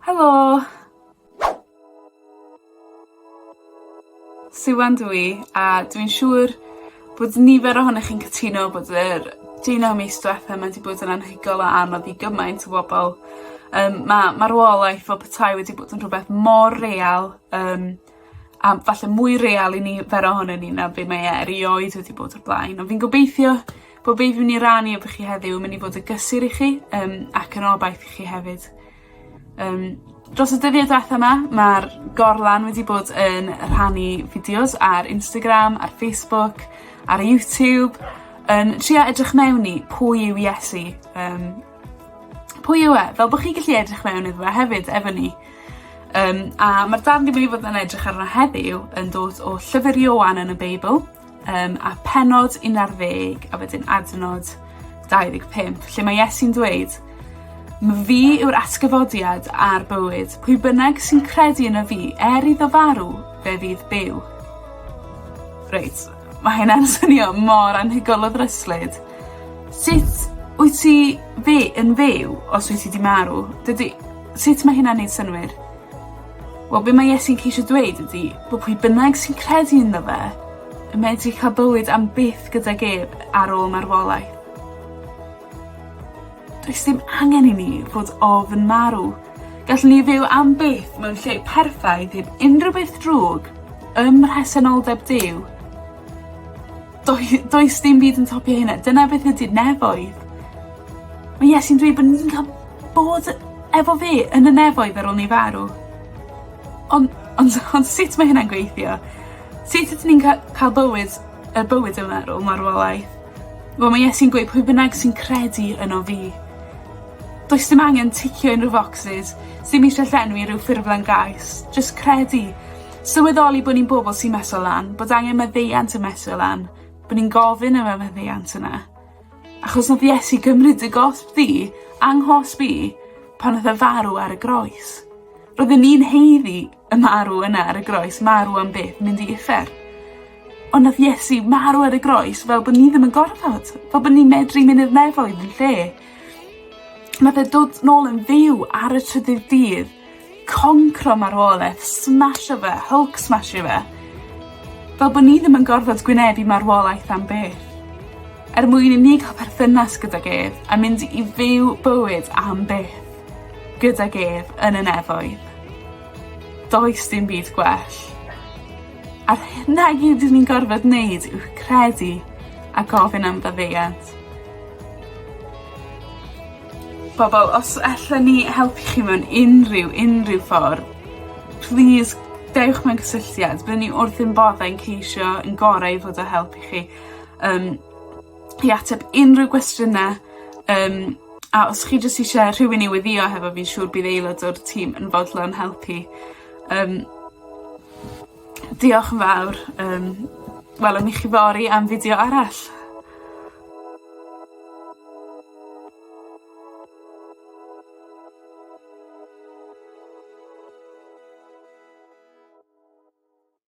Helo! Siwan dw i a dwi'n siŵr bod nifer ohonoch chi'n cytuno bod yr deunaw mis dwetha 'ma 'di bod yn anhygoel o anodd i gymaint o bobol. Yym ma' marwolaeth fel petai wedi bod yn rhwbeth mor real yym A falle mwy real i nifer ohonon ni na be' mae e erioed wedi bod o'r blaen on' fi'n gobeithio bo' be' fi myn' i rannu efo chi heddiw yn myn' i fod y gysur i chi yym ac yn obaith i chi hefyd. Yym dros y dyddie dwetha 'ma ma'r gorlan wedi bod yn rhannu fideos ar Instagram ar Facebook ar YouTube yn trio edrych mewn i pwy yw Iesu yym Pwy yw e? Fel bo' chi gallu edrych mewn iddo fe hefyd efo ni. Yym a ma'r darn dwi myn' i fod yn edrych arno heddiw yn dod o llyfyr Ioan yn y Beibl yym a pennod un ar ddeg a wedyn adnod dau ddeg pump lle ma' Iesu'n dweud ma' fi yw'r atgyfodiad a'r bywyd. Pwy bynnag sy'n credu yno fi, er iddo farw, fe fydd byw. Reit. Mae hynna'n swnio mor anhygol o ddryslyd. Sut wyt ti fy- yn fyw os wyt ti 'di marw? Dydi... Sut ma' hynna'n neud synnwyr? Wel be' ma' Iesu'n ceisio dweud ydi bo' pwy bynnag sy'n credu ynddo fe yn medru ca'l bywyd am byth gydag ef ar ôl marwolaeth. Does dim angen i ni fod ofn marw. Gallwn ni fyw am byth mewn lle perffaith heb unrhyw beth drwg ym mhresenoldeb Duw. Doi- does dim byd yn topio hynna. Dyna beth ydy'r nefoedd. Mae Iesu'n dweud bod ni'n cael bod efo fe yn y nefoedd ar ôl ni farw. Ond ond ond sut mae hynna'n gweithio? Sut ydyn ni'n ca- ca'l bywyd y bywyd yma ar ôl marwolaeth? Wel ma' Iesu'n gweud pwy bynnag sy'n credu yno fi. Does dim angen ticio unryw focsys sdim isie llenwi rhyw ffurflen gais, jyst credu. Sylweddoli bo' ni'n bobol sy'n meso lan, bod angen maddeuant yn mesur lan, bo' ni'n gofyn am y maddeuant yna. Achos nath Iesu gymryd dy gosb di, a nghosb i, pan nath e farw ar y groes. Roedden ni'n haeddu y marw yna ar y groes marw am byth mynd i uffern. Ond nath Iesu marw ar y groes fel bo' ni ddim yn gorfod, fel bo' ni medru mynd i'r nefoedd yn lle. Ma' fe dod nôl yn fyw ar y trydydd dydd, concro marwoleth, smasho fe, Hulk smashio fe. Fel bo' ni ddim yn gorfod gwynebu marwolaeth am byth. Er mwyn i ni ca'l perthynas gydag ef a mynd i fyw bywyd am byth gydag ef yn y nefoedd. Does dim byd gwell. A'r hyn i gyd dwi 'di gorfod neud yw credu a gofyn am faddeuant. Pobol os allen ni helpu chi mewn unrhyw unrhyw ffordd plîs dewch mewn cysylltiad byddwn ni wrth ein boddau yn ceisio ein gorau i fod o helpu chi yym i ateb unryw gwestiyne yym a os chi jys isie rhywun i weddio hefo fi siŵr bydd aelod o'r tîm yn fodlon helpu. Yym. Diolch yn fawr yym welwn ni chi fory am fideo arall.